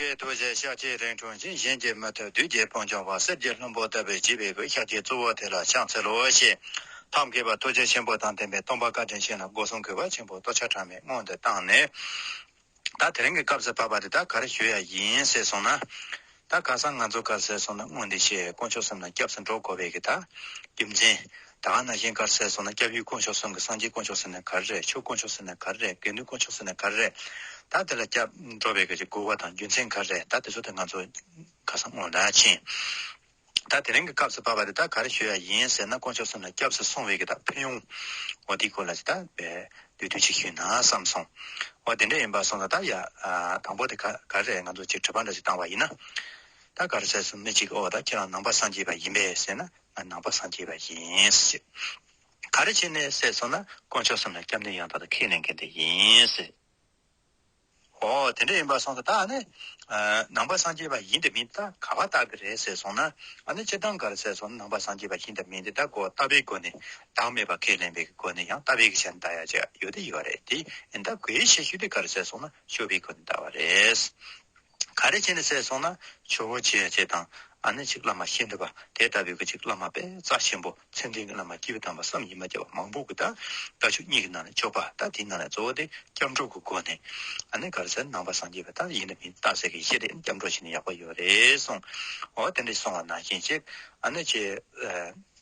པའི་རྡོ་རྗེ་ཤཱ་ཀྱའི་རིང་ཁྲོ་འབྱིན་བཞིན་གྱི་མུ་ཐུད་བདུད་རྒྱལ་སྤུན་ཆུང་བ་གསེར་གྱི་ལྷུན་པོ་ལྟ་བུའི་བརྗིད་པའི་གོས་ཤཱ་ཀྱའི་གཙོ་བོ་དེ་ལ་ཕྱག་འཚལ་ལོ་ཞེས་ཐབས་མཁས་པ་ཐུགས་རྗེ་ཆེན་པོ་དང་ལྡན་པའི་སྟོང་པ་བཀའ་དྲིན་ཆེན་ལ་སྒོ་སྲུང་གུས་པ་ཆེན་པོ་ལྟོ་འཕྱར་གྲངས་མེད་སྔོན་དུ་བཏང་ནས། ད་དེ་རིང་གི་སྐབས་སུ་བབས་པ་འདི་ད་གར་བཞུགས་ཡ་ཡིན་ཟེར་སོང་ན། ད་ག་སང་ང་ཚོ་གར་ཟེར་སོང་ན་དངོས་འདི་ཤེས་དཀོན་མཆོག་གསུམ་ལ་སྐྱབས་སུ་འགྲོ་དགོས་པས་ཀྱི་ད། རྒྱུ་མཚན། ད་ང་ན་གཞན་དཀར་གསལ་སོང་ན་སྐྱབས་ཡུལ་དཀོན་མཆོག་གསུམ་གྱི་སངས་རྒྱས་དཀོན་མཆོག་ཟེར་ནས་ག་རེ་རེད་ཆོས་དཀོན་མཆོག་ཟེར་ནས་ག་རེ་རེད་དགེ་འདུན་དཀོན་མཆོག་ཟེར་ནས་ག་རེ་རེད་ད་དེ་ལ་སྐྱབས་འགྲོ་བའི་ག་རེ་དགོས་བ་དང་རྒྱུ་མཚན་ག་རེ་རེད་ད་དེ་ཚོ་དེ་ང་ཚོ་ཁ་སང་ངོ་ན་ཕྱིན་ད་དེ་རིང་གི་སྐབས་སུ་བབ་བ་རེད་ད་ག་རེ་ཞུ་ཡ་ཡིན་ཟེར་ན་དཀོན་མཆོག་གསུམ་ལ་སྐྱབས་སུ་སོང་བའི་གི་ད་ཕན་ཡོང་བ་དེའི་སྐོར་ལ་ད་བསྡུས་དུས་ཅིག་ཞུས་ན་བསམ་སོང་བ་དེ་འདྲ་ཡིན་པ་སོང་ད་ད་ཡ་དང་པོ་དེ་ག་རེ་རེད་ང་ཚོ་ཅིག་དྲི་བ་འདྲ་ཞིག་བཏང་བ་ཡིན་ན་ད་ག་རེ་གསལ་སོང་མི་གཅིག་གིས་ཨོ་ད་ཁྱེད་རང་ནང་པ་སངས་རྒྱས་པ་ཡིན་པས་ཟེར་ན་ནང་པ་སངས་རྒྱས་པ་ཡིན། ག་རེ་བྱས་ནས་ཟས་ཟོ་ན་དཀོན་མཆོག་གསུམ་ལ་སྐྱབས་འདུན་ཡང་དག་ཏུ་ཁས་ལེན་མཁན་དེ་ཡིན། ཨོ་དེ་འདྲ་ཡིན་པ་སོང་ད་ད་ནི། ནང་པ་སངས་རྒྱས་པ་ཡིན་དེ་མིན་ད་ག་བ་ལྟ་གི་རེད་ཟེར་སོང་ན། ཨ་ནི་སྤྱིར་བཏང་ག་རེ་ཟེར་སོང་ན་ནང་པ་སངས་རྒྱས་པ་ཡིན་དེ་མིན་དེ་ད་གོ་ལྟ་བའི་སྒོ་ནས་བདག་མེད་པ་ཁས་ལེན་པའི་སྒོ་ནས་ཡང་ལྟ་བའི་གི་ཆ་ནས་ད་ཡ་ཆ་ཡོད་དེ་ཡོད་རེད་དེ་ཡིན་ད་གོའི་ཤེས་ཤུགས་དེ་ག་རེ་ཟེར་སོང་ན་ཤོར་བའི་སྒོ་ནས་ལྟ་བ་རེད། ག་རེ་བྱས་ནས་བསད་སོང་ན་ཆུ་བོ་ཆེ་ཡ་བྱེད་དང་ཨ་ནེ་གཅིག་བླ་མ་ཤེས་འདོད་པ་དེ་ལྟ་བུའི་གི་གཅིག་བླ་མ་པས་རྩ་ཆེན་པོ་མཚན་ལྡན་གི་བླ་མ་སྐྱིད་པོ་དམ་པ་བསམ་ཡིད་མ་བརྒྱ་བ་མང་པོ་གི་དང་ཀ་ཆུ་གཉིས་གི་ནང་ནས་གཅོག་པ་ད་དེའི་ནང་ནས་གཙོ་བོ་དེ་སྐྱབས་འགྲོ་གི་སྒོ་ནས་ཨ་ནེ་གར་སེར་ནང་པ་སངས་རྒྱས་པ་དག་ཡིན་ནི་མིན་བརྟག་བསད་གི་ཤེས་དེ་སྐྱབས་འགྲོ་བྱེད་ནི་ཡག་པོ་ཡོད་རེད་གསུངས་འོ་དེ་འདྲ་སོང་བ་ན་ཤེས་ཅེས་ཨ་ནེ་ཆེ་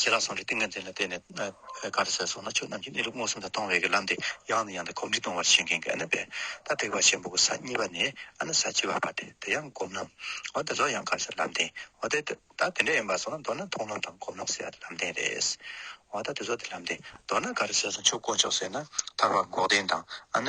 ཞེས་རང་གསུངས་ཀྱི་ཏིང་ངེ་འཛིན་ལ་བརྟེན་ནས། ག་རེ་ཟེར་སོང་ན་ཆོས་རྣམས་ཀྱི་གནས་ལུགས་མངོན་སུམ་དུ་མཐོང་བའི་ལམ་སྟེ་ཡང་ནས་ཡང་དུ་གོམས་འདྲིས་གཏོང་བར་བྱེད་མཁན་གྱི་ཨ་ན་བྷེ་ཏཱ་ཐེག་པ་ཆེན་པོ་གྱི་ས་གཉིས་པ་ནི་ཨ་ན་ས་བཅུ་བ་བར་ཏེ་དེ་ཡང་སྒོམ་ལམ། འོ་དེ་ཚོ་ཡང་ག་རེ་ཟེར་ལམ་བདེན། འོ་དེ་ད་དེ་འདྲ་ཡིན་པར་སོང་ན་མདོར་ན་མཐོང་ལམ་དང་སྒོམ་ལམ་ཟེར་བ་དེ་ལམ་བདེན་རེད། འོ་ད་དེ་ཚོ་དེ་ལམ་བདེན། མདོར་ན་ག་རེ་ཟེར་སོང་ཆོས་དཀོན་མཆོག་ཟེར་ན་ཐར་བ་འགོག་བདེན་དང་ཨ་ན།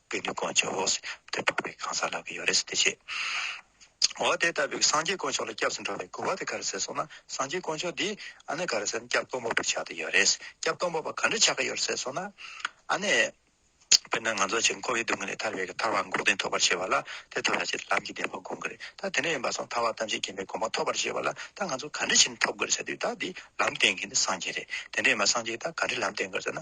དཔེ་འདི་དཀོན་མཆོག་འོག་ཏུ་འཁྲུག་པའི་གང་ཟག་ལག་གི་ཡོ་རེ་སི་དེ་བྱེད། འོ་དེ་ལྟ་བུའི་སངས་རྒྱས་དཀོན་མཆོག་ལ་སྐྱབས་སུ་འགྲོ་བའི་དགོས་པ་དེ་ག་རེ་ཟེར་སོང་ན་སངས་རྒྱས་དཀོན་མཆོག་འདི་ཨ་ནི་ག་རེ་ཟེར་ན་སྐྱབས་སྟོང་པ་པོ་ཆགས་ཏེ་ཡོད་རེ་སི་སྐྱབས་སྟོང་པ་པོ་ག་འདྲ་ཆགས་ཀྱི་ཡོད་རེ་ཟེར་སོང་ན་ཨ་ནི། དཔེར་ན་ང་ཚོ་ཆེས་མཁོ་བའི་སྡུག་བསྔལ་ལས་ཐར་བའི་གི་ཐར་བ་འགོག་བདེན་ཐོབ་པར་བྱེད་པ་ལ་དེ་ཐོབ་པར་བྱེད་ལམ་གྱི་བདེན་པ་འགོག་དགོས་རེད་ད་དེ་འདྲ་ཡིན་པ་སོང་ཐར་བ་ཐམས་ཅད་མཁྱེན་པའི་གོང་མ་ཐོབ་པར་བྱེད་པ་ལ་ད་ང་ཚོ་ག་འདྲ་བྱས་ནས་ཐོབ་དགོས་རེ་ཟེར་དུས་ད་འདི་ལམ་བསྟེན་མཁན་དེ་སངས་རྒྱས་རེད་དེ་འདྲ་ཡིན་པ་སངས་རྒྱས་ད་ག་འདྲའི་ལམ་བསྟེན་དགོས་རེ་ཟེར་ན་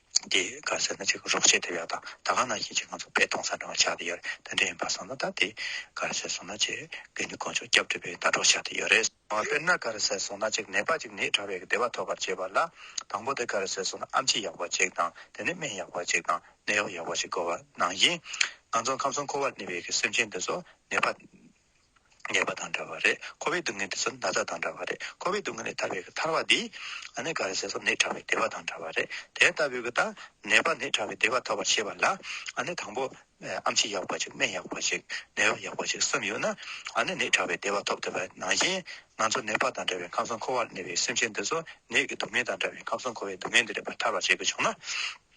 འདི་ག་ཟེར་ན་ཅིག་རོགས་བྱེད་ཐུབ་ཡག་དང་ད་ག་ན་བཞིན་ཅིག་ང་ཚོ་བེད་གཏོང་ས་འདྲ་བ་ཆགས་ཏེ་ཡོད་རེད་དོན་འདྲ་ཡིན་པ་སོང་ན་ད་འདི་ག་ཟེར་སོང་ན་ཅིག་དགེ་འདུན་དཀོན་མཆོག་སྐྱབས་སྒྲུབ་པའི་ཟླ་གྲོགས་ཆགས་ཏེ་ཡོད་རེད། དཔེར་ན་ག་རེ་ཟེར་སོང་ན་ཅིག་ནད་པ་ཅིག་ནད་ཕྲ་བའི་བདེ་བ་ཐོབ་པར་བྱེད་པ་ལ་དང་པོ་དེ་ག་རེ་ཟེར་སོང་ན་ཨམ་ཆི་ཡག་པོ་ཅིག་དང་དེ་ནས་སྨན་ཡག་པོ་ཅིག་དང་ནད་གཡོག་ཡག་པོ་ཅིག་དགོས་པ་ནང་བཞིན། ང་ཚོ་ཁམས་གསུམ་འཁོར་བར་གནས་པའི་གི་སེམས་ཅན་འདི་ཚོ་ནད་པ། ཉེས་པ་དང་འདྲ་བ་རེད་ཁོ་བོའི་སྡུག་བསྔལ་དེ་ཚོ་ན་ཚ་དང་འདྲ་བ་རེད་ཁོ་བོའི་སྡུག་བསྔལ་ལས་ཐར་བའི་ཐར་བ་འདི། ཨ་ནེ་ག་རེ་ཟེར་སོ་ནད་ཕྲ་བའི་བདེ་བ་དང་འདྲ་བ་རེད་དེ་ལྟ་བུའི་གི་ད་ནད་པ་ནད་ཕྲ་བའི་བདེ་བ་ཐོབ་པར་བྱེད་པ་ལ་ཨ་ནེ་དང་པོ་ཨམ་ཆི་ཡག་པ་ཅིག་སྨན་ཡག་པ་ཅིག་ནད་བབ་ཡག་པ་ཅིག་གསུམ་ཡོད་ན་ཨ་ནེ་ནད་ཕྲ་བའི་བདེ་བ་ཐོབ་ཐུབ་པའི་ནང་བཞིན་ང་ཚོ་ནད་པ་དང་འདྲ་བའི་ཁམས་གསུམ་འཁོར་བར་གནས་པའི་སེམས་ཅན་འདི་ཚོ་ནད་ཀྱི་སྡུག་བསྔལ་དང་འདྲ་བའི་ཁམས་གསུམ་འཁོར་བའི་སྡུག་བསྔལ་འདི་ལས་པར་ཐར་བར་བྱེད་དགོས་བྱུང་ན།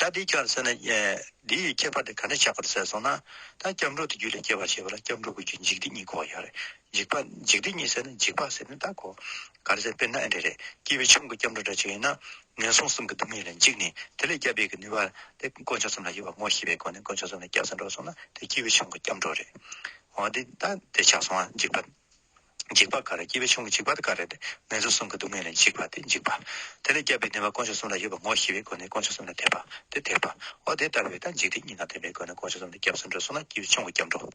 ད་འདི་སྐྱར་བསྲེས་ན་འདི་ཡི་ཁྱད་པར་དེ་ག་འདྲ་ཆགས་པར་ཟད་སོང་ན། ད་སྐྱབས་འགྲོ་དེ་རྒྱུད་ལས་སྐྱེ་བར་བྱེད་པ་ལ་སྐྱབས་འགྲོ་དགོས་རྒྱུ་འཇིག་རྟེན་གཉིས་གོ་ཡ་རེད། འཇིག་པ་འཇིག་རྟེན་གཉིས་བསྲེས་ན་འཇིག་པ་ཟེར་ནི་བདག་གོ། ག་རེ་ཟེར་དཔེར་ན་ཨེ་འདྲ་རེད་སྐྱེས་པའི་ཆོམ་གྱི་སྐྱབས་འགྲོ་འདྲ་ཆགས་ཡིན་ན། ངན་སོང་གསུམ་གྱི་སྡུག་བསྔལ་ལས་འཇིགས་ནས་དེ་ལས་སྐྱབས་འབད་ཀྱི་ནུས་པ་དེ་དཀོན་མཆོག་གསུམ་ལ་ཡོད་པ་ངོ་ཤེས་པའི་སྒོ་ནས་དཀོན་མཆོག་གསུམ་ལ་སྐྱབས་སུ་འགྲོ་སོང་ན་དེ་སྐྱེས་བུའི་ཆོམ་གྱི་སྐྱབས་འགྲོ་རེད། འོ་འདི་ད་དེ་ཆགས་སོང་ང་འཇིག་པ། འཇིགས་པ་ག་རེ་སྐྱེ་བའི་ཆུང་གི་འཇིགས་པ་དེ་ག་རེ་སྟེ་ངན་སོང་གསུམ་གྱི་སྡུག་བསྔལ་ལས་འཇིགས་པ་སྟེ་འཇིགས་པ། དེ་ལས་སྐྱབས་པའི་བདེན་པ་དཀོན་མཆོག་གསུམ་ལ་ཡོད་པར་ངོ་ཤེས་པའི་སྒོ་ནས་དཀོན་མཆོག་གསུམ་ལ་དད་པ། དེ་དད་པ། འོ་དེ་ལྟ་བུའི་དང་འཇིག་རྟེན་གཉིས་དང་ལྡན་པའི་སྒོ་ནས་དཀོན་མཆོག་གསུམ་ལ་སྐྱབས་སུ་འགྲོ་གསུངས་ན་སྐྱེ་བའི་ཆུང་གི་སྐྱབས་འགྲོ།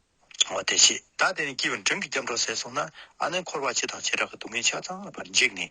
འོ་དེ་ཤེས་བདག་དེ་ནི་སྐྱེ་བའི་མགྲོན་གྱི་སྐྱབས་འགྲོ་ཟད་གསུངས་ན་ཨ་ནི་འཁོར་བ་སྤྱི་དང་བྱེ་བྲག་གི་སྡུག་བསྔལ་ཆ་ཚང་བར་འཇིགས་ནས།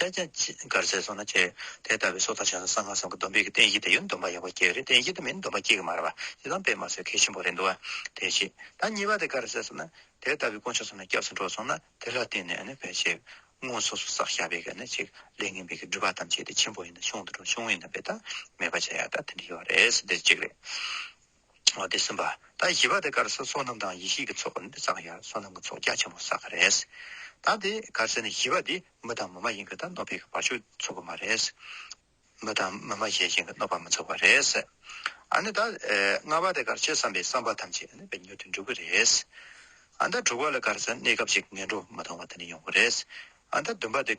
བསྟན་བྱ། གར་ཟས་སོགས་ན་བཅས། དེ་ལྟ་བུའི་སྲོག་དང་བྱང་སེམས་གསང་སྔགས་སམ་གྱི་སྡོམ་པའི་གི་རྟེན་གཞི་དེ་ཡང་སྡོམ་པ་ཡོད་པ་སྐྱེ་བ་རེད་རྟེན་གཞི་དེ་མིན་སྡོམ་པ་སྐྱེ་གི་མ་རེད་བ། ཞེ་སྡང་པས་མ་ཟོས་མཁས་ཆེན་པོ་རེད་འདུག་བ། དེ་བཞི། ད་གཉིས་པ་དེ་གར་ཟས་སོགས་ན། དེ་ལྟ་བུའི་དཀོན་མཆོག་སོགས་ན་སྐྱབས་སུ་འགྲོ་སོང་ན་དེ་ལ་བརྟེན་ནས་ནི་བས་ཤིག། སྔོན་སོ་སོ་བསགས་བཞག་པའི་གི་ནི་ཅིག་ལས་ངན་པའི་གི་སྒྲིབ་པ་ཐམས་ཅད་དེ་ཆེན་པོ་ཡིན་ན་ཆུང་དུ་འགྲོ་ཆུང་ངུའི་ནི་བས་ཐ་མལ་པ་བྱ་ཡག་ད་དེ་འདྲ་ཡོད་རེད་ཟེར་དེ་ཅིག་རེད། དེ་གསུམ་པ། ད་བཞི་པ་དེ་གར་སའི་སོ་ནམ་དང་ཡེ་ཤེས་ཀྱི་ཚོགས་ནི་ཙཀ་ཡ་སོ་ནམ་གྱི་ཚོགས་རྒྱ་ཆེན་པོ་ས་ཀ་རེད། ད་དེ་གར་སའི་ནི་བཞི་པ་དེ་མི་དང་མི་མ་ཡིན་གྱི་ད་གནོད་པའི་གྱི་བར་ཆོད་ཚོགས་པ་མ་རེད། མི་དང་མི་མ་གཞལ་བཞིན་གྱི་གནོད་པ་མི་ཚོགས་པ་རེད། ཨ་ནི་ད་ལྔ་པ་དེ་གར་ཆོས་བསམ་པའི་བསམ་པ་ཐམས་ཅད་ནི་བའི་མྱུར་དུ་འགྲུབ་གྱི་རེད། ད་དྲུག་པ་ལ་གར་སའི་གནས་སྐབས་ཅིག་ངན་འགྲོ་མི་མཐོང་བ་དེ་ནི་ཡོང་གི་རེད། ད་བདུན་པ་དེ།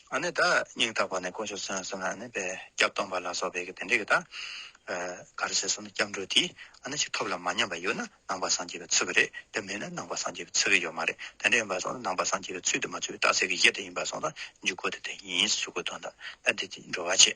ཨ་ནི་ད་སྙིང་ཐག་པ་ནས་དཀོན་མཆོག་སོན་སོང་ཨ་ནི་བའི་སྐྱབས་སྟོང་པ་ལ་སོགས་པའི་དེ་འདྲའི་གི་ད་ག་རེ་བྱེད་སོང་ན་སྐྱབས་འགྲོ་དེས་ཨ་ནི་ཅིག་ཐོབ་ལ་མ་ཉམས་པ་ཡོད་ན་ནང་པ་སངས་རྒྱས་པའི་ཚུལ་གི་རེད་དེ་མེད་ན་ནང་པ་སངས་རྒྱས་པའི་ཚུལ་གི་ཡོད་མ་རེད་དེ་འདྲ་ཡིན་པ་སོང་ན་ནང་པ་སངས་རྒྱས་པའི་ཚུལ་དུ་མ་ཚུལ་བའི་རྟགས་ཚད་ཀི་གཞི་དེ་ཡིན་པ་སོང་ན་འཇུག་སྒོ་དེ་དེ་ཡིན་ཞུ་དགོས་དོན་དང་ད་དེ་འགྲོ་བ་ཆེ།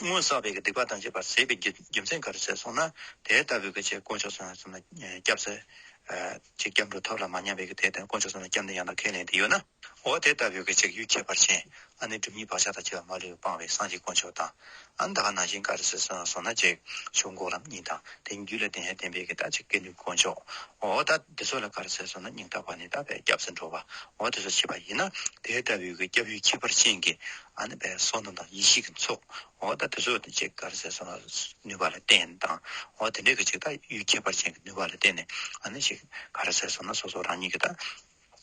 སྔོན་བསགས་པའི་སྡིག་པ་དང་བཅས་པར་ཟད་པའི་རྒྱུ་མཚན་ག་རེ་བྱས་སོང་ན་དེ་ལྟ་བུའི་ཆེད་དཀོན་མཆོག་གསུམ་ལ་སེམས་ལ་སྐྱབས། ཚེ་གཅིག་སྐྱབས་འགྲོ་ཐབས་ལ་མ་ཉམས་པའི་དེ་ལྟར་དཀོན་མཆོག་གསུམ་ལ་སྐྱབས་འདི་ཡང་དག་ཁས་ལེན་དེ་ཡོད་ན། འོ་དེ་ལྟ་བུའི་ཆེད་ཡུལ་ཁྱད་པར་ཅན་ཨ་ནི་སྒྲུབ་གཉིས་བག་ཆགས་དང་བཅས་པ་མ་ལུས་པའི་སྤང་བའི་སངས་རྒྱས་དཀོན་མཆོག་དང། ཨ་ནི་དག་ནང་བཞིན་ག་རེ་བྱས་སོང་ན་ཅིག་ཆོག་འགོག་ལམ་གཉིས་དང་དེ་གཉིས་རྒྱུད་ལ་བརྟེན་ཡང་བརྟེན་པའི་རྟགས་ཅིག་སྐད་ནུས་དཀོན་མཆོག་འོ་ད་འདི་ཚོ་ལ་ག་རེ་བྱས་སོང་ན་སྙིང་རྟག་པ་ནི་རྟག་པའི་སྐྱབས་སུ་འགྲོ་བའོ་དེ་ཚོ་བྱས་པ་ཡིན་ན་དེ་ལྟ་བུའི་སྐྱབས་ཡུལ་ཁྱད་པར་ཅན་གྱི་ཨ་ནི་བའི་སྲོག་རྣམས་དང་ཡེ་ཤེས་ཀྱི་མཚོའོ། འོ་ད་དེ་ཚོ་དེ་ཅིག་གར་ཟས་སོགས་ལ་ནུས་པ་ལ་བརྟེན་དང། འོ་དེ་འདྲའི་གི་ཅིག་ད་ཡུལ་ཁྱད་པར་ཅན་གྱི་ནུས་པ་ལ་བརྟེན་ནས་ཨ་ནི་ཞིག་གར་ཟས་སོགས་ན་སོ་སོ་རང་ཉིད་ཀྱི་ད་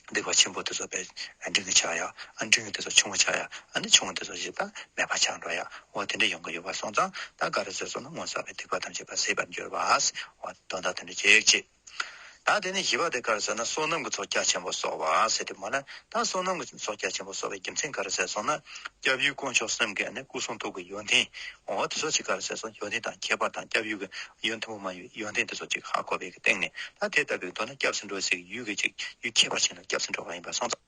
སྡིག་པ་ཆེན་པོ་དེ་ཚོ་བས་འབྲིང་གི་ཆགས་ཡ། ཨ་འབྲིང་དེ་ཚོ་ཆུང་བ་ཆགས་ཡ་ཨ་ནི་ཆུང་དེ་ཚོ་ཞིག་ད་མེད་པ་ཆགས་འགྲོ་ཡ། འོ་དེ་འདྲའི་ཡོང་གི་ཡོད་པ་སོང་ཙང་ད་གར་ཟས་སོགས་ན་སྔོན་བསགས་པའི་སྡིག་པ་ཐམས་ཅད་པ་ཟད་པར་འགྱུར་བ། འོ་དོན་དག་དེ་འདྲ་ཅིག་ཅེས། དང། དེ་ནས་བཞི་པ་དེ་གར་ཟད་ན་བསོད་ནམས་ཀྱི་ཚོགས་རྒྱ་ཆེན་པོ་སོགས་བར་ཟད་དེ་མ་ལགས་དང་བསོད་ནམས་ཀྱི་ཚོགས་རྒྱ་ཆེན་པོ་སོགས་པའི་རྒྱུ་མཚན་གར་ཟད་སོང་ན། སྐྱབས་ཡུལ་དཀོན་མཆོག་སེམས་དགའི་ནི་སྐུ་གསུང་ཐུགས་ཀྱི་ཡོན་ཏན། འོ་དེ་སོགས་ཅིག་གར་ཟད་སོང་ཡོན་ཏན་དང་ཁྱད་པར་དང་སྐྱབས་ཡུལ་གྱི་ཡུལ་མཐུན་པོ་མ་ཡིན་པའི་ཡོན་ཏན་དེ་སོགས་ཅིག་ཧ་གོ་བའི་སྟེང་ནས་ད་དེ་ལྟ་བུའི་མདོ་ན་སྐྱབས་སུ་འགྲོ་བའི་ཚིག་གི་ཡུལ་གྱི་ཅིག་ཡུལ་ཁྱད་པར་ཅན་ལ་སྐྱབས་སུ་འགྲོ་བ་ཡིན་པར་སོང་ཙང།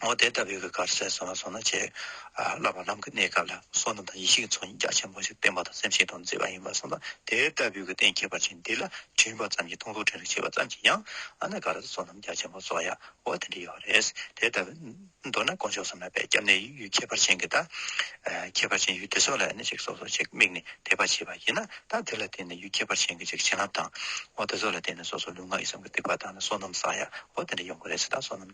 འོ་དེ་ལྟ་བུའི་གར་སའི་བསོད་ནམས་སོང་ན་ཆེས་བསླབ་པ་རྣམས་ཀྱི་གནས་སྐབས་ལ་བསོད་ནམས་དང་ཡེ་ཤེས་ཀྱི་ཚོགས་གཉིས་རྒྱ་ཆེན་པོ་ཞིག་བསྟན་པ་དང་སེམས་ཤིང་དང་མཛེས་པ་ཡིན་པར་བསམས་ལ་དེ་ལྟ་བུའི་གཏན་ཁེལ་པ་ཅན་འདི་ལ་བྲིས་པ་ཙམ་གྱིས་སྟོང་ཚོ་ཕྲན་རེ་བྱས་པ་ཙམ་གྱིས་ཡང་ཨ་ནེ་ག་ར་ས་བསོད་ནམས་རྒྱ་ཆེན་པོ་ཚོགས་ཡའོ་དེ་འདྲ་ཡོད་པ་རེད། དེ་ལྟ་བུ། མདོར་ན་དཀོན་མཆོག་གསུམ་ལ་པའི་སྐྱབས་གནས་ཡུལ་ཁྱད་པར་ཅན་གྱི་ད། ཁྱད་པར་ཅན་ཡུལ་དེ་སོགས་ལ་ཨ་ནེ་ཅིག་སོ་སོ་ཅིག་དམིགས་ནས་དད་པ་བྱེད་པ་ཡིན་ན་ད་དེ་ལ་བརྟེན་ནས་ཡུལ་ཁྱད་པར་ཅན་གྱི་ཅིག་བྱིན་རླབས་དང། འོ་དེ་སོགས་ལ་བརྟེན་ནས་སོ་སོ་ལུས་ངག་ཡིད་གསུམ་གྱི་སྡིག་པ་དག་ནས་བསོད་ནམས་བསགས་ཡའོ་དེ་འདྲ་ཡོང་གི་རེད་ད་བསོད་ནམས།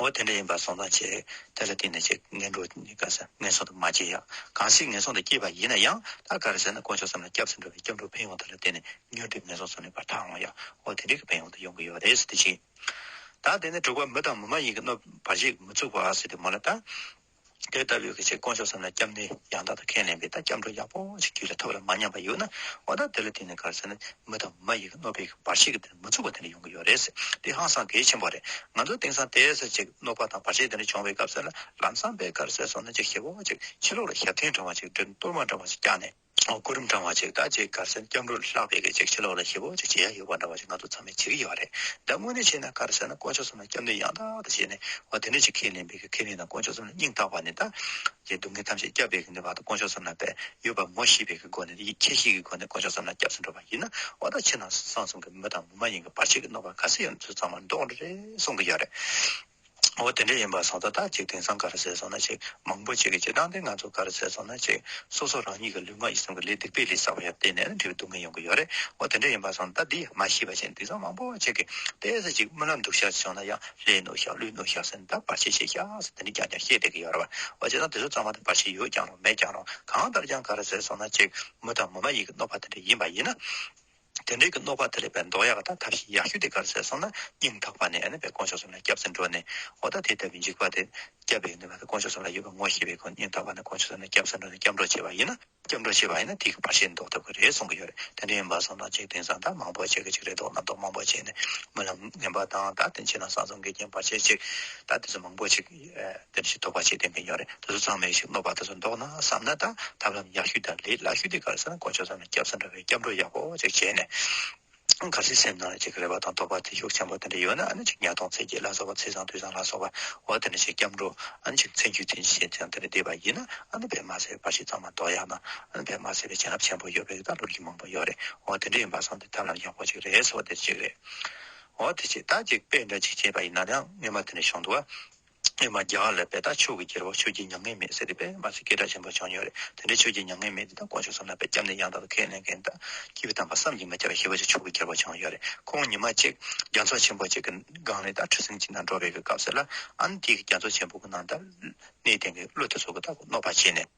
འོ་དེ་འདྲ་ཡིན་པར་སོང་ཙང་བྱས། དེ་ལ་བརྟེན་ནས་ཆེད་ངན་འགྲོ་ནི་དགའ་ས་ངན་སོང་དུ་མ་སྐྱེས་ཡང། གང་ཞིག་ངན་སོང་དུ་སྐྱེས་པ་ཡིན་ན་ཡང་ད་ག་རེ་ཟེར་ན་དཀོན་མཆོག་བསམ་ལ་སྐྱབས་སུ་འགྲོ་བའི་སྐྱབས་འགྲོ་ཕན་ཡོང་དེ་ལ་བརྟེན་ནས་ཉོན་སྒྲིབ་ངན་སོང་སོང་ནས་བར་ཐག་འོང་ཡང་འོ་དེ་འདྲའི་གི་ཕན་ཡོང་དུ་ཡོང་གི་ཡོད་རེད་ཟེར་ཏེ་བྱིན། ད་དེ་ནས་དྲུག་པ་མི་དང་མི་མ་ཡིན་གྱི་གནོད་པར་བྱེད་མི་ཚུགས་པ་ཟེར་ཏེ་མོ་ལ་བལྟ། དེ་ལྟ་བུའི་ཆེས་དཀོན་མཆོག་ཙམ་ལ་སྐྱབས་གནས་ཡང་དག་ཏུ་ཁས་ལེན་པའི་དང་སྐྱབས་འགྲོ་ཡག་པོ་ཞིག་རྒྱུད་ལ་ཐོབ་ལ་མ་ཉམས་པ་ཡོད་ན་འོ་ད་དེ་ལ་བརྟེན་ནས་གར་སོང་ན་མི་དང་མ་ཡི་གི་གནོད་པའི་བར་ཆད་ཀྱི་དེ་ནི་མི་ཚུགས་པ་དེ་འདྲ་ཡོང་གི་ཡོད་རེད། དེ་ཧང་སང་གལ་ཆེན་པོ་རེད་ང་ཚོ་དེང་སང་དེའི་ཟེར་ཅིག་གནོད་པ་དང་བར་ཆད་དེ་འདྲ་བྱུང་བའི་སྐབས་སེར་ལམ་སངས་པའི་གར་སེར་སོང་ན་ཅིག་ཞེ་པོ་ཅིག་ཕྱི་ལོག་ལ་ཞབས་ཐིང་འདྲ་བ་ཅིག་སྦྲུལ་གཏོར་མ་འདྲ་བ་ཅིག་བཀྱགས་ནས། སྐུ་རིམ་བགྲང་བ་ཅིག་ད་ཅིག་གར་སེང་སྐྱབས་འགྲོ་ལ་ལྷག་པའི་གེགས་ཅིག་ཕྱི་ལོག་ལ་ཤི་བོ་ཅིག་བྱེད་ཡ་ཡོད་པ་འདྲ་བ་ཞིག་ང་ཚོ་ཚང་མས་བྱེད་ཀྱི་ཡོད་རེད་ད་དངོས་གནས་བྱས་ན་གར་སེང་ན་དཀོན་མཆོག་གསུམ་ལ་སྐྱབས་འདོད་ཡང་དག་དང་བྱས་ནས་བ་དེ་འདྲ་ཅིག་ཁས་ལེན་པའི་གེགས་ཁས་ལེན་དང་དཀོན་མཆོག་གསུམ་ལ་སྙིང་ཐག་པ་ནས་ད་ཀྱི་སྡུག་བསྔལ་ཐམས་ཅད་བསྐྱབས་པའི་གེགས་འདི་བ་དང་དཀོན་མཆོག་གསུམ་ལ་བས་ཡོད་པ་མོ་ཤེས་པའི་གེགས་སྒོ་ནས་ཡིད་ཆེས་ཤིག་གི་སྒོ་ནས་དཀོན་མཆོག་གསུམ་ལ་སྐྱབས་སུ་འགྲོ་བ་ཡིན་ན་བ་ད་ཕྱི་ནང་གསང་གསུམ་གྱི་མི་དང་མི་མ་ཡིན་གྱི་བར་ཆད་ཀྱི་གནོད་པ་ག་སེ་ཡོད་ན་ཚུར་ཚང་མ་འདོགས་འགྲོ་རེད་གསུང་གི་ཡོད་རེད། འོ་དེ་འདྲ་ཡིན་པ་སོང་ད་ལྟ་གཅིག་དེང་སང་ག་རེ་ཟེར་སོང་ན་ཅིག་མང་པོ་གཅིག་གིས་ཅིག་བཏང་དེ་ང་ཚོ་ག་རེ་ཟེར་སོང་ན་ཅིག་སོ་སོ་རང་ཉིད་ཀྱི་ལུས་ངག་ཡིད་གསུམ་གྱི་ལས་སྡིག་པའི་ལས་བསགས་པ་ཡང་བལྟས་ནས་འབྲས་བུ་སྡུག་བསྔལ་ཡོང་གི་ཡོད་རེད་འོ་དེ་འདྲ་ཡིན་པ་སོང་ད་འདི་མ་ཤེས་པ་ཞིག་དེང་སང་མང་པོ་གཅིག་གིས་བལྟས་ཟེར་ཅིག་རྨི་ལམ་འདུག་ཤག་ཅིག་བྱུང་ན་ཡང་ལྷའི་ནུ་ཤག་ཀླུའི་ནུ་ཤག་ཟེར་ནས་ད་བར་ཆད་བྱེད་ཤག་ཟེར་དེ་འདྲ་ཀྱང་ཀྱང་བཤད་བསྡད་ཀྱི་ཡོད་རེད་བ་འོ་བྱས་ཙང་དེ་ཚོ་ཚང་མ་དང་བར་ཆད་ཡོད་ཀྱང་རུང་མེད་ཀྱང་རུང་གང་ལྟར་ཀྱང་ག་རེ་ཟེར་སོང་ན་ཅིག་མི་དང་མི་མ་ཡིན་གྱི་གནོད་པ་དེ་འདྲ་ཡིན་པ་ཡིན་ན། དེ་འབྲེལ་གྱི་རྣོ་ཁ་དེ་ལས་པའི་མདོག་ཡག་དང་ཐབས་ཤེས་ཡག་ཤོས་དེ་གར་ཟད་སོང་ན་སྙིང་ཐག་པ་ནས་པའི་དཀོན་མཆོག་གསུམ་ལ་སྐྱབས་སེམས་སྤྲོ་ནས་ཨོ་ད་དེ་ལྟ་བུའི་འཇིགས་པ་དེ་བསྐྱབས་པའི་ནུས་པ་དེ་དཀོན་མཆོག་གསུམ་ལ་ཡོད་པ་ངོ་ཤེས་པའི་སྒོ་ནས་སྙིང་ཐག་པ་ནས་དཀོན་མཆོག་གསུམ་ལ་སྐྱབས་སེམས་སྤྲོ་ནས་སྐྱབས་འགྲོ་བྱེད་པ་ཡིན་ན་སྐྱབས་འགྲོ་བྱེད་པ་ཡིན་ན་དེ་གི་བར་ཆད་འདོགས་ཐུབ་ཀྱི་རེད་གསུང་གི་ཡོད་རེད་དེ་འདྲ་ཡིན་པ་སོང་ན་འཇིག་རྟེན་སང་ད་མང་པོ་བྱེད་ཀྱི་ཅིག་རེད་དོགས་ན་དོགས་མང་པོ་བྱས་ནས་རྨི་ལམ་ངན་པ་དང་ད་དེ་བྱས་ན་སང་ཚོང་གི་རྐྱེན་བར་ཆད་ཅིག་ད་དེ་ཚོ་མང་པོ་ཅིག། དེ་བཞིན་དོགས་པ་ཆེ་ལྡན་མཁན་ཡོད་རེད་དེ་ཚོ་ཚང་མས་ཤིག་སློབ་པ་དེ་ཚོ་འདོགས་ན་བསམ་ན་དང་ཐབས་ལམ་ཡག་ཤོས་དང་ལས་སླ་ཤོས་དེ་ག་རེ་ཟེར་ན་དཀོན་མཆོག་ཚང་མས་སྐྱབས་ས་འདྲ་བའི་སྐྱབས་འགྲོ་ཡག་པོ་ཅིག་བྱས་ནས་ག་ཚོད་སེམས་ནང་ཅིག་རེ་བ་དང་དོགས་པ་ཐེ་ཞུགས་ཆེན་པོ་དེ་འདྲ་ཡོད་ན་ཨ་ནི་ཅིག་ཉག་སྟོང་ཚེ་རྒྱས་ལ་སོགས་པ་ཚེ་བཟང་དུས་བཟང་ལ་སོགས་པ་འོ་དེ་འདྲ་ཅིག་སྐྱབས་འགྲོ་ཨ་ནི་ཅིག་ཚེ་མཇུག་དེ་ཤེས་ཚེ་དེ་འདྲ་བསྡད་པ་ཡིན་ན་ཨ་ནི་བེད་མ་ཟེར་བར་ཤིག་ཚང་མ་འདོགས་ཡག་ན་ཨ་ནི་བེད་མ་ཟེར་བའི་བྱིན་རླབས་ཆེན་པོ་ཡོད་པའི་རིགས་དང་ལོ་རྒྱུས་མང་པོ་ཡོད་རེད་འོ་དེ་འདྲ་ཡིན་པ་བཟང་དེ་ཐབས་ལམ་ཡག་པོ་ཅིག་རེད་ཟེར་བ་དེ་འདྲ་ཅིག་རེད། འོ་དེ་ཕྱིར་བདག་གཅིག་དཔེ་འདྲ་གཅིག་བྱས་པ་ཡིན་ན་ཡང་སྨྱོན་མ་དེ་ནས་བྱུང་འདུག་ཨ། སྨྱོན་མ་རྒྱ་གར་ལས་དཔེ་དག་ཆོས་ཀྱི་རྒྱལ་པོ་ཆོས་ཀྱི་མྱ་ངན་མེད་ཟེར་དེ་དཔེ་མ་ཚིག་སྐད་གྲགས་ཆེན་པོ་བྱུང་མྱོང་རེད་དེ་འདྲའི་ཆོས་ཀྱི་མྱ་ངན་མེད་དེ་དག་དཀོན་མཆོག་བསམ་ན་དཔེ་སྐྱབས་ནས་ཡང་དག་པའི་ཁས་ལེན་མཁན་དག་སྐྱིད་པོ་དམ་པ་བསམ་གྱིས་མི་ཁྱབ་པའི་ཞི་བ་ཅིག་ཆོས་ཀྱི་རྒྱལ་པོ་བྱུང་ཡོད་རེད་ཁོང་ཉི་མ་གཅིག་རྒྱ་མཚོ་ཆེན་པོ་ཅིག་གི་སྒང་ནས་དག་ཁྲི་སེམས་ཅན་དག་འགྲོ་བའི་གི་སྐབས་ཟེར་ལ་ཨ་ནི་དེའི་གི་རྒྱ་མཚོ་ཆེན་པོ་གི་ནང་དག་གནས་བརྟན་གི་ཀླུ་དེ་ཚོ་གི་དག་གི་གནོད་པ་བྱས་ནས།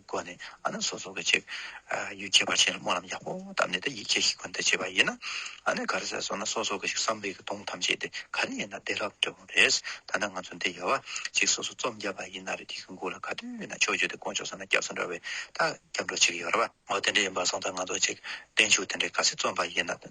སྒོ་ནས་ཨ་ན་སོ་སོ་ག་ཅིག་ཡུལ་གྱི་བར་ཆད་ལ་སྨོན་ལམ་ཡག་པོ་བཏབ་ནས་དེ་ཡིད་ཆེས་ཤིག་ཁོ་ན་དེ་བྱེད་པ་ཡིན་ན། ག་རེ་ཟེར་སོང་ན་སོ་སོ་ག་ཅིག་བསམ་པའི་གདུང་ཐམས་ཅད་དེ་ག་ནས་ཡིན་ན་བདེ་རབ་འདོད་པོ་རེད། ད་ནི་ང་ཚོ་འདི་ཡལ་བ་གཅིག་སོ་སོ་རྩོམ་རྒྱབ་པ་ཡིན་ན་རེད་དེ་གི་མགོ་ལ་ག་དུས་ན་ཆོས་བརྗོད་དེ་དཀོན་མཆོག་ས་ན་སྐྱབས་སུ་འགྲོ་བའི་ཐག་སྐྱབས་འགྲོ་བྱེད་ཀྱི་ཡོད་རེད་པ། འོ་དེ་འདྲ་ཡིན་པ་སོང་ཙང་ང་ཚོ་གཅིག་བརྟན་བཞུགས་དེ་འདྲ་ག་ཚེ་རྩོམ་པ་ཡིན་ན།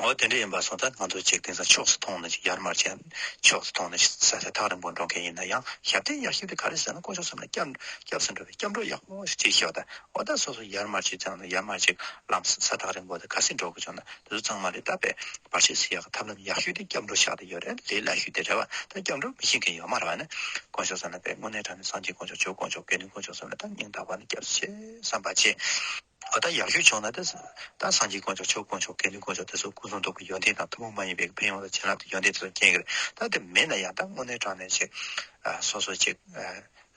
འོ་དེ་འདྲ་ཡིན་པ་སོང་ད་ང་ཚོ་ཅིག་དེང་སང་ཕྱོགས་སུ་མཐོང་ནི་ཅིག་ཡར་མར་ཅན་ཕྱོགས་སུ་མཐོང་ནི་ཅིག་ཟེར་ས་ཐག་རིང་པོ་འགྲོ་མཁན་ཡིན་ན་ཡང་ཞབས་བརྟན་ཡག་ཞིབ་དེ་ག་རེ་ཟེར་ན་དཀོན་མཆོག་གསུམ་ལ་སྐྱབས་སུ་འགྲོ་བའི་སྐྱབས་འགྲོ་ཡག་པོ་ཅིག་ཤོག་ད་འོ་ད་སོ་སོ་ཡར་མར་ཅིག་ཅང་ཡར་མར་ཅིག་ལམ་ས་ཐག་རིང་པོ་ད་ག་སེ་འགྲོ་དགོས་བྱུང་ན་དེ་ཚོ་ཚང་མ་རེད་ད་པས་པར་ཤེས་སུ་ཡག་གི་ཐབས་ལམ་ཡག་ཤོས་དེ་སྐྱབས་འགྲོ་ཤག་དེ་ཡོད་རེད་ལས་སླ་ཤོས་དེ་རེད་བ་ད་སྐྱབས་འགྲོ་མི་ཤེས་མཁན་ཡོད་མ་རེད་བ་ནི་དཀོན་མཆོག་གསུམ་ལ་པས་དངོས་གནས་དྲང་ནས་སངས་རྒྱས་དཀོན་མཆོག་ཆོས་དཀོན་མཆོག་དགེ་འདུན་དཀོན་མཆོག་གསུམ་ལ་ད་སྙིང་ཐག་པ་ནས་སྐྱབས་སུ་མཆི་བསམ་པ་བྱེད། བ་དག་ཡར་ཞུ་ཆོག་ན་དེ་དག་སངས་རྒྱས་དཀོན་མཆོག་ཆོས་དཀོན་མཆོག་དགེ་འདུན་དཀོན་མཆོག་དེ་ཚོ་སྐུ་གསུང་ཐུགས་ཀྱི་ཡོན་ཏན་དང་ཐུན་མོང་མ་ཡིན་པའི་ཕན་ཡོན་ལ་བྱིན་རླབས་ཀྱི་ཡོན་ཏན་དེ་ཚོ་སྐྱེ་གི་རེད་ད་དེ་མེད་ན་ཡང་ད་དངོས་གནས་དྲང་གནས་ཅིག་སོ་སོ་ཅིག་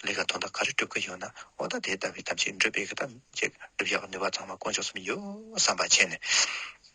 ལས་ཀ་དོན་དག་ག་རེ་སྒྲུབ་ཀྱི་ཡོད་ན་འོ་ད་དེ་ལྟ་བུའི་ཐབས་ཅིག་འགྲུབ་སྤེལ་གི་ཐབས་ཅིག་སྒྲུབ་ཡག་པ་ནུས་པ་ཚང་མ་དཀོན་མཆོག་གསུམ་ཡོད་བསམ་པ་བྱས་ནས།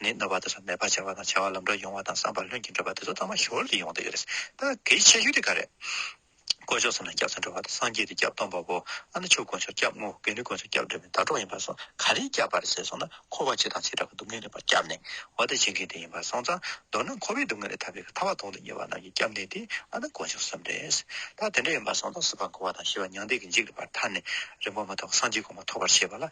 ནི་རྣ་བ་དེ་ཚོ་མེད་པར་བྱ་བ་དང་བྱ་བ་ལམ་འགྲོ་ཡོང་བ་དང་བསམ་པ་ལྷུན་གྱིས་འགྲུབ་པ་དེ་ཚོ་ཐོག་མ་ཞོར་དུ་ཡོང་དུ་ཡོད་རེད། ད་གིའི་ཆེ་ཤོས་དེ་ག་རེད། དཀོན་མཆོག་གསུམ་ལ་སྐྱབས་སུ་འགྲོ་བ་དང་སངས་རྒྱས་དེ་སྐྱབས་སྟོང་པ་པོ་ཨ་ནུ་ཆོས་དཀོན་མཆོག་སྐྱབས་དངོས་གལ་ནི་དཀོན་མཆོག་སྐྱབས་འགྲོ་མིན་དྭ་གྲོགས་ཡིན་པར་སོང་ག་རེའི་སྐྱབས་པར་བྱས་སོང་ན་འཁོར་བ་ཇི་དང་ཇི་འདྲ་བ་སྡུག་བསྔལ་ལས་པར་སྐྱབས་ནས་འོ་དེ་བྱེད་མཁན་དེ་ཡིན་པར་སོང་ཙང་མདོར་ན་འཁོར་བའི་སྡུག་བསྔལ་ལས་ཐར་པའི་ཐར་བ་དོང་དུ་གཉེར་བ་རྣམས་ཀྱི་སྐྱབས་གནས་དེ་ཨ་ནུ་དཀོན་མཆོག་གསུམ་རེད། ད་དེ་འདྲ་ཡིན་པར་སོང་ཙང་སྲིད་པ་འཁོར་བ་དང་ཤི་བ་མྱང་འདས་ཀྱི་འཇིགས་ལས་པར་ཐར་ནས་རིང་པོ་མ་ཐོག་སངས་རྒྱས་གོང་མ་ཐོབ་པར་བྱས་པ་ལ།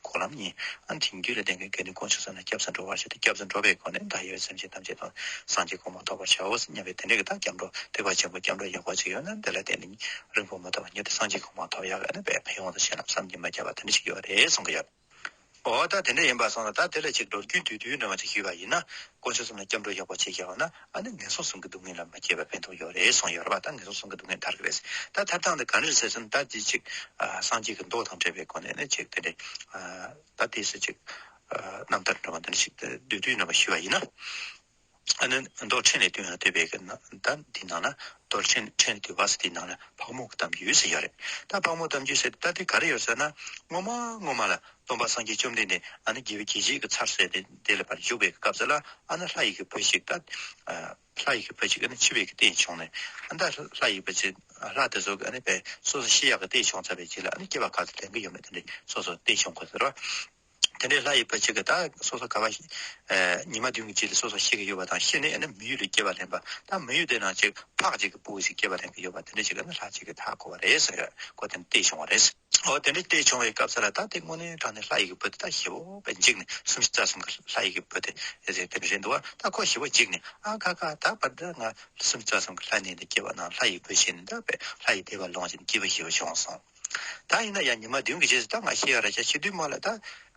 གོ་ལམ་གཉིས། ཨ་འཐིང་རྒྱུད་ལ་ལྡན་པའི་དགེ་འདུན་སྐོང་ཆུ་བཟང་ལ་སྐྱབས་སུ་འགྲོ་བར་བྱ་སྟེ་སྐྱབས་སུ་འགྲོ་བའི་སྒོ་ནས་བདག་ཡོད་སེམས་ཅན་ཐམས་ཅད་དུ་སངས་རྒྱས་གོང་མ་ཐོབ་པར་བྱའོ་སྙམ་པའི་དེ་འདྲའི་བདག་སྐྱབས་འགྲོ་ཐེག་པ་ཆེན་པོ་སྐྱབས་འགྲོ་ཡག་པོ་ཅིག་ཡོད་ན་དེ་ལ་བརྟེན་ནས་རིང་པོ་མ་ཐོགས་པར་མྱུར་དུ་སངས་རྒྱས་གོང་མ་ཐོབ་ཡག་ཡོད་ན་དཔལ་ཕན་ཡོང་དུ་ཆེ་ལམ་བསམ་གྱིས་མ་ཁྱབ་པ་དེ་འདྲ་ཞིག་ཡོད་རེད་གསུང་གི་ཡོད། འོ་ད་དེ་འདྲ་ཡིན་པར་སོང་ལ་ད་དེ་ལ་ཅིག་འགྲོ་རྒྱུའི་དུས་དུས་འདྲ་མ་ཅིག་ཞུས་པ་ཡིན་ན། སྐོང་ཆུ་གསུམ་ལ་སྐྱབས་འགྲོ་ཡག་པོ་ཅིག་བྱས་པ་ན། ཨ་ནི་ངན་སོང་གསུམ་གྱི་སྡུག་བསྔལ་ལ་མི་སྐྱེ་བར་ཕན་ཐོགས་ཡོད་རེད་གསུངས་ཡོད་རེད་བ་ད་ངན་སོང་གསུམ་གྱི་སྡུག་བསྔལ་དར་གི་རེད་ད་ཐབས་དང་དེ་ག་རེ་ཟེར་ཟིན་ད་དེ་ཅིག་སངས་རྒྱས་ཀྱི་མདོ་དང་བྲལ་བའི་སྒོ་ནས་ནི་ཅིག་དེ་འདྲས་ད་དེ་སུ་ཅིག་རྣམ་ཐར་འགྲོ་བ་འདི་འདྲ་ཞིག་བདུད་བཏུལ་རྣམ་པ་ཞུས་པ་ཡིན་ན། ཨ་ནི་རྡོར་ཕྲེང་ལས་བཏུལ་ན་བཏུལ་བས་ཀྱི་ན་ད་དེའི་ནང་ན་རྡོར་ཕྲེང་ཕྲེང་བཏུལ་བ་ཟེར་དེའི་ནང་ན་ཕག་མོ་གཏམ་རྒྱུད་ཟེར་ཡོད་རེད་ད་ཕག་མོ་གཏམ་རྒྱུད་ཟེར་ད་དེ་ག་རེ་ཡོད་ཟེར་ན་སྔོན་མ་སྔོན་མ་ལ་སྟོན་པ་སངས་རྒྱས་བཅོམ་ལྡན་འདས་ཨ་ནི་རྒྱལ་བའི་གྱད་ཅིག་གི་ཚར་བསལ་ཏེ་དེ་ལ་བར་འཇུག་པའི་སྐབས་སུ་ལ་ཨ་ན་ལྷ་ཡི་གེ་བུ་ཅིག་ལྟ། ལྷ་ཡི་གེ་བུ་ཅིག་ཨ་ནི་འཆི་བའི་གི་སྟེང་བྱུང་ནས་ཨ་ད་ལྷ་ཡི་བུ་ཅིག་ལྷ་དེ་སོག་གི་ཨ་ནི་བས་སོ་སོ་ཤི་ཡག་གི་སྟེང་བྱུང་ཚར་བའི་གྱི་ལ་ཨ་ནི་སྐྱེ་བ་ག་ཚོད་ལེན་གི་ཡོད་མེད་དེ་འདྲའི་སོ་སོ་སྟེང་བྱུང་གོ་ཟེར་རོ། དེ་འདྲའི་ལྷ་ཡི་བུ་ཅིག་གི་ད་སོ་སོ་ག་བ་ཉི་མ་བདུན་གི་གྱི་ལ་སོ་སོ་ཤི་གི་ཡོད་བ་དང་ཤི་ནས་ཨ་ནི་མི་ཡུལ་ལ་སྐྱེ་བ་ལེན་པ་ད་མི་ཡུལ་དེ་ན་ཅིག་ཕག་ཅིག་གི་བུ་ཅིག་སྐྱེ་བ་ལེན་གི་ཡོད་བ་དེ་འདྲ་ཅིག་ཨ་ནི་ལྷ་ཅིག་གི་ད་གོ་བ་རེད་ཟེར་གོ་དེ་ནི་སྟེང་བྱུང་བ་རེད། འོ་དེ་འདྲ་དེ་བྱུང་བའི་སྐབས་སུ་ལ་དྭགས་དེ་སྔོན་ནས་དྲངས་ནས་ལྷ་ཡི་གེ་བོད་དེ་ད་ཞི་བོ་བས་འཇིགས་ནས་གསུམ་བཞི་རྩ་གསུམ་གྱི་ལྷ་ཡི་གེ་བོད་དེ་རེ་རེ་རེ་འདུ་བ་ད་ཁོ་ཞི་བོ་འཇིགས་ནས་ཨ་ཁ་ཁ་ད་བར་འདི་ང་གསུམ་བཅུ་རྩ་གསུམ་གྱི་ལྷ་གནས་འདི་སྐྱེ་བ་ན་ལྷ་ཡི་བུ་ཞེ་འདི་འདྲ་བས་ལྷ་ཡི་དད་པ་ལོངས་ཞེན་སྐྱེས་བུ་ཞི་བོ་བྱུང་གསུང། ད་ཡིན་ན་ཡང་ཉི་མ་བདུན་གྱི་རྗེས་སུ་ད་ང་ཤི་ཡང་ར་ཤ་ཤི་དུས་མ་ལ་ད་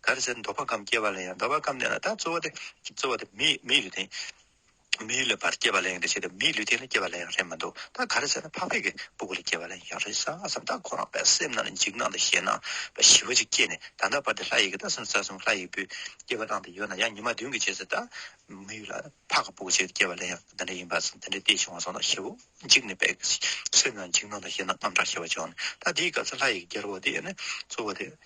ག་རེ་ཟེར་འདོད་པ་ཀམ་སྐྱེ་བ་ལ་ཡང་འདོད་པ་ཀམ་གནས་ན་ད་རྩོལ་བ་དེ་རྩོལ་བ་དེ་མི་མི་ཡི་རིགས་དེ། མིའི་ལུས་པར་སྐྱེས་པ་ལས་ཡང་རེ་བྱས་ཏེ་མིའི་ལུས་དེ་ལ་སྐྱེས་པ་ལས་ཡང་རེ་མི་འདུག་ད་ག་རེ་ཟེར་ན་ཕག་ཕེབས་ཀྱི་སྤུ་གུ་ལས་སྐྱེས་པ་ལས་ཡང་རེ་ཟ་སྙམ་ད་ཁོ་རང་པའི་སེམས་ནང་ལ་འཇིགས་སྣང་དང་ཞེད་སྣང་བ་ཞི་བ་ཅིག་སྐྱེས་ནས་ད་ལྟ་བར་དེ་ལྷ་ཡི་གེ་ད་སེམས་རྩ་གསུམ་ལྷ་ཡི་སྤུས་སྐྱེས་པ་བླངས་ཏེ་ཡོད་ན་ཡང་ཉི་མ་བདུན་གྱི་རྗེས་སུ་ད་མི་ལ་ཕག་གི་སྤུ་གུ་བྱས་ཏེ་སྐྱེས་པ་ལས་ཡང་འདི་འདྲ་ཡིན་པ་སེམས་འདི་འདྲའི་ལྟས་བྱུང་བ་སོང་ད་ཞི་བོ་འཇིགས་ནས་པའི་སེམས་ནང་འཇིགས་སྣང་དང་ཞེད་སྣང་རྔམ་དྲག་ཞི་བ་བྱུང་ནས་ད་དེའི་སྐབས་སུ་ལྷ་ཡི་གེ་རྒྱལ་པོ་དེ་ཡོད་ནས་གཙོ་བོ་དེ་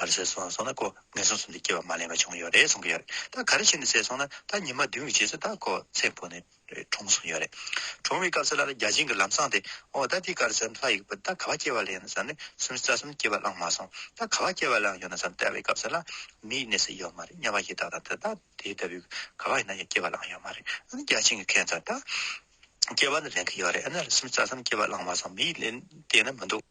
ག་རེ་བྱས་སོང་སོང་ན་ཁོ་ངན་སོང་སོང་དུ་སྐྱེ་བ་མ་ལེན་པ་བྱུང་ཡོད་རེད་གསུང་གི་ཡོད་རེད་ད་ག་རེ་བྱས་ནས་བསད་སོང་ན་ད་ཉི་མ་བདུན་གྱི་རྗེས་སུ་ད་ཁོ་ཚེ་འཕོ་ནས་གྲོངས་སོང་ཡོད་རེད་གྲོངས་བའི་སྐབས་སུ་ལ་ལ་རྒྱ་ཆེན་གྱི་ལམ་སྲང་དེ་འོ་ད་འདི་ག་རེ་བསམ་ལྷ་ཡི་གི་བུ་ད་ག་བ་སྐྱེ་བ་ལེན་བསམ་ནས་སུམ་རྩ་གསུམ་སྐྱེ་བ་བླངས་མ་སོང་ད་ག་བ་སྐྱེ་བ་བླངས་ཡོད་ན་བསམ་བལྟ་བའི་སྐབས་སུ་ལ་མིའི་གནས་སུ་ཡོད་མ་རེད་སྙམ་པ་ཞིག་ད་ད་ད་དེ་ལྟ་བུའི་ག་བ་ཡིན་ན་ཡང་སྐྱེ་བ་བླངས་ཡོད་མ་རེད་ཨ་ནི་རྒྱ་ཆེན་གྱི་མཁན་ཚ་ད་སྐྱེ་བ་ནི་ལེན་གྱི་ཡོད་རེད་ཨ་ནི་སུམ་རྩ་གསུམ་སྐྱེ་བ་བླངས་མ་སོང་མིའི་གནས་དེ་ན་མི་འདུག།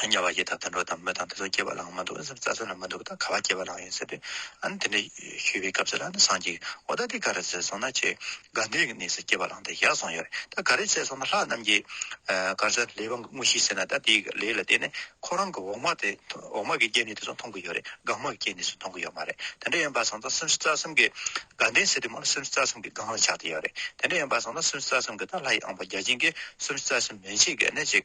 དམྱལ་བ་ཡི་དྭགས་དང་འགྲོ་དང་མི་དང་དེ་ཚོ་སྐྱེ་བ་ལའང་མ་འདུག་ཨ་ཟེར་རྩྭ་ཟེར་ལ་མི་འདུག་ད་ག་བ་སྐྱེ་བ་ལའང་ཡོད་ཟེར་དུས་ཨ་ནི་དེ་འདྲ་ཞུས་པའི་སྐབས་སུ་ལ་ནི་སངས་རྒྱས་ཀྱི་འོ་ད་དེ་ག་རེ་ཟེར་སོང་ན་ཆེས་དགའ་འདུན་གྱི་གནས་སུ་སྐྱེ་བ་ལའང་དེ་བཞག་སོང་ཡོད་རེད་ད་ག་རེ་བྱས་སོང་ན་ལྷ་རྣམས་ཀྱིས་གར་ས་ལས་དབང་གི་དངོས་གཞི་ཟེར་ན་ད་དེའི་ལས་ལ་བརྟེན་ནས་ཁོ་རང་གི་འོག་མ་དེ་འོག་མ་གི་སྐྱེ་གནས་དེ་ཚོ་མཐོང་གི་ཡོད་རེད་སྒང་མ་གི་སྐྱེ་གནས་སུ་མཐོང་གི་ཡོད་མ་རེད་དེ་འདྲ་ཡིན་པ་སོང་ཙང་སེམས་རྩ་གསུམ་གྱི་དགའ་འདུན་ཟེར་དུས་མོ་ལ་སེམས་རྩ་གསུམ་གྱི་སྒང་ལ་ཆགས་ཏེ་ཡོད་རེད་དེ་འདྲ་ཡིན་པ་སོང་ན་སེམས་རྩ་གསུམ་གྱི་ད་ལྷ་ཡི་ཨང་པ་བརྒྱ་བྱིན་གྱིས་སེམས་རྩ་གསུམ་མེད་ཕྱིན་གྱི་གནས་ཅིག་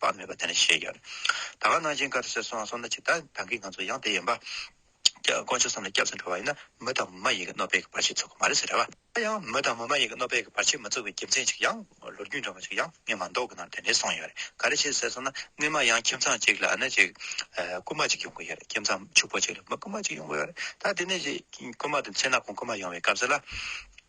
བ་མེད་པ་དེ་ནི་ཤེས་ཀྱི། ད་ག་ནང་བཞིན་བཀའ་ཟེར་སོང་སོང་ན་ཇི་ལྟར་དང་གི་ང་ཚོ་ཡང་དེ་ཡིན་པ། དཀོན་མཆོག་བསམ་ལ་སྐྱབས་སུ་འགྲོ་བ་ཡིན་ན་མི་དང་མི་མ་ཡིན་གྱི་གནོད་པས་ཀྱི་བར་ཆད་ཚུགས་ཀྱི་མ་རེད་ཟེར་རེད་བ། ད་ཡང་མི་དང་མི་མ་ཡིན་གྱི་གནོད་པས་ཀྱི་བར་ཆད་མི་ཚུགས་པའི་རྒྱུ་མཚན་ཅིག་ཡང་ལོ་རྒྱུས་འདྲ་མོ་ཅིག་ཡང་ངས་མ་མདོག་གི་ནང་དོན་དེ་གསུངས་ཡོད་རེད་ག་རེ་བྱས་ཟེར་སོང་ན་སྔོན་མ་ཡང་ཁྱིམ་ཚང་ཅིག་ལ་ནི་ཅིག་རྐུན་མ་ཅིག་ཡོང་གི་ཡོད་རེད་ཁྱིམ་ཚང་ཕྱུག་པོ་ཅིག་ལ་མི་རྐུན་མ་ཅིག་ཡོང་གི་ཡོད་རེད་ད་དེ་ནི་རྐུན་མ་དེ་མཚན་ནག་ཁོང་རྐུན་མ་ཡོང་བའི་སྐབས་སུ་ལ།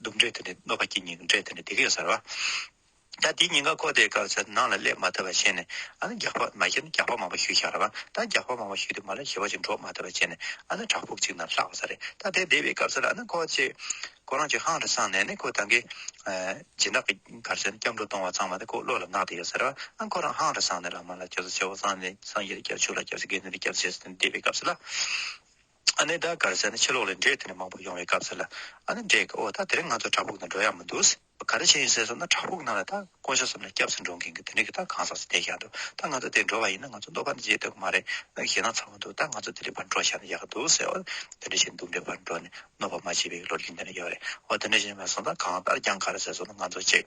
སྡུག་འདྲེ་དེ་ནི་གནོད་པ་སྐྱེད་སྙིང་འདྲེ་དེ་ནི་སྡིག་གཡོ་ཟེར་བ། ད་དེའི་ཉེན་ཁ་ཁོག་དེའི་སྐབས་སུ་ནང་ལ་སླེབས་མ་ཐུབ་པ་བྱས་ནས་ཨ་ན་རྒྱགས་པ་མ་བཞེས་ན་རྒྱགས་པ་མང་པོ་ཞུས་ཤག་ར་བ། ད་རྒྱགས་པ་མང་པོ་ཞུས་དུས་མ་ལ་བཞེས་པ་ཅིག་འགྲོ་མ་ཐུབ་པ་བྱས་ནས་ཨ་ན་བྲག་ཕུག་ཅིག་ནང་ལྷག་པ་ས་རེད་ད་དེ་བསྡད་པའི་སྐབས་སུ་ལ་ཨ་ན་ཁོག་ཅིག་ཁོ་རང་ཅིག་ཧང་དུ་སངས་ནས་ནི་ཁོ་ད་གིན། སྦྱིན་བདག་གི་གར་སོན་སྐྱབས་འགྲོ་གཏོང་བ་ཚང་མ་དེ་ཁོ་བློ་ལ་བརྣག་དེ་ཡོད་ཟེར་བ། ཨ་ཁོ་རང་ཧང་དུ་སངས་ནས་ལ་མ་ལ་སྐྱབས་སུ་མཆི་བ་སངས་ནས་སངས་རྒྱས་ལ་སྐྱབས་ཆུ་ལ་སྐྱབས་སུ་དགེ་འདུན་ལ་སྐྱབས་ཞེས་སོ་ནས་བསྡད་པའི་སྐབས་སུ་ལ། ཨ་ནེ་ད་གར་ཟེར་ན་ཕྱི་ལོགས་ལས་འབྲས་དེ་འདྲ་མང་པོ་ཡོང་བའི་སྐབས་ཟེར་ལ། ཨ་ནེ་འབྲས་ཀྱི་འོ་ད་དེ་རིང་ང་ཚོ་བྲག་ཕུག་ནང་འགྲོ་ཡག་མི་འདུག་ཟེར། ག་རེ་བྱེད་ཡིན་ཟེར་སོང་ན་བྲག་ཕུག་ནང་ལ་ད་དཀོན་ཤོས་སམ་ན་སྐྱབས་སུ་འགྲོ་མཁན་གྱི་དེ་འདྲ་གི་ད་གང་ཟག་ཅིག་བསྡད་བཞག་འདུག་ད་ང་ཚོ་དེར་འགྲོ་བ་ཡིན་ན་ང་ཚོ་མདོ་ཁ་ནས་བརྗེད་འདོད་ཀྱི་མ་རེད་ནང་གི་ཞེད་སྣང་ཚ་བོ་འདུག་ད་ང་ཚོ་དེ་འདྲའི་བར་འགྲོ་བཞག་ན་ཡག་གི་འདུག་ཟེར་བ་དེ་འདྲ་ཞིག་འདུག་འདྲའི་བར་འགྲོ་ནས་གནོད་པ་མ་བྱེད་པའི་བློ་རྒྱུན་དེ་འདྲ་ཡོད་རེད་འོ་དེ་འདྲ་ཞིག་མེད་སོང་ད་གང་ལྟར་རྒྱང་ག་རེ་ཟེར་སོང་ན་ང་ཚོ་གཅིག།